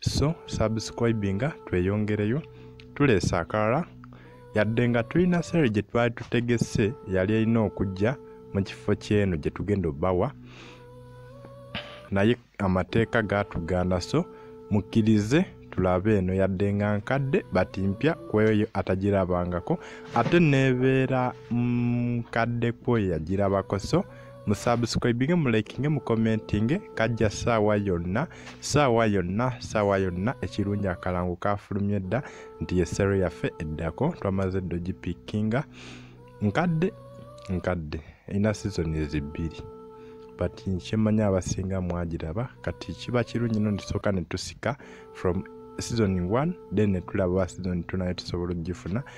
so subscribinga tweyongereyo tuleese akalala yadde nga tulina sere gye twali tutegese yali erina okujja mu kifo ky'eno gye tugenda obawa naye amateeka gaatugaana so mukkirize tulabe eno yadde nga nkadde bati mpya kweyo atagirabangako ate nebeera nkadde mm, kweyo yagirabako so musubscribinge mulikinge mukomentinge kajja saawa yonna saawa yonna saawa yonna ekirungi akalango kafulumye dda nti yesero yaffe eddako twamaze dda ogipikkinga nkadde nkadde erina sizoni ezibbiri but kyemanya abasinga mwagiraba kati kiba kirungi no netusooka netusika from season 1 then netulaba season 2 naye tusobola okugifuna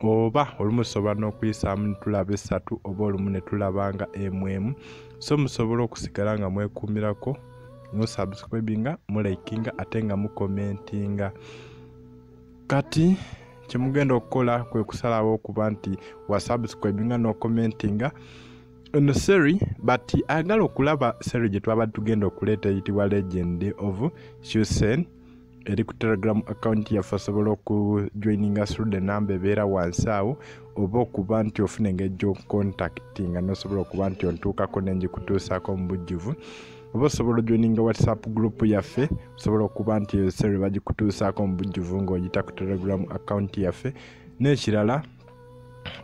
oba olumu tusobola n'okuyisaamu netulaba essatu oba olumu netulaba nga emu emu so musobola okusigala nga mwekumirako musubscribinga mulikinga ate nga mukomentinga kati kyemugenda okukola kwe kusalawo okuba nti wasubscribinga nokomentinga ono seri but ayagala okulaba seri gyetwabadde tugenda okuleeta eyitibwa legend of shusen eri ku telegram account yaffe osobola okujoininga through the number ebeera wansi awo oba okuba nti ofuna engeri gyokucontactinga nosobola okuba nti ontuukako nengikutuusaako mu bujjuvu oba osobola ojoininga whatsapp group yaffe osobola okuba nti eyo sere bagikutuusaako mu bujjuvu ngaoyita ku telegram account yaffe n'ekirala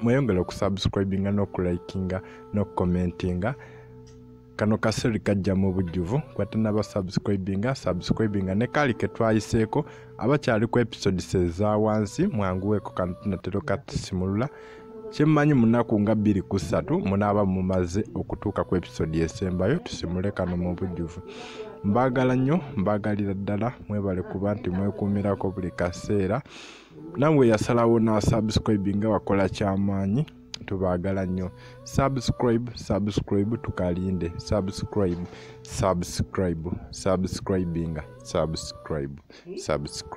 mweyongere okusubscribinga n'okulikinga n'okucommentinga no kano kaseri kajja mu bujjuvu kwatanaba subscribinga subscribinga ne kaali ke twayiseeko abakyali ku episodes eza wansi mwanguweeko kano tunatero katusimulula kyemmanyi munaku nga bbiri ku ssatu munaaba mumaze okutuuka ku episodi esembayo tusimule kano mu bujjuvu mbaagala nnyo mbaagalira ddala mwebale kuba nti mwekuumirako buli kaseera nawe yasalawo n'asubscribinga wakola kyamaanyi tubaagala nnyo subscribe subscribe tukalinde subscribe subscribe subscribinga subscribe subscribe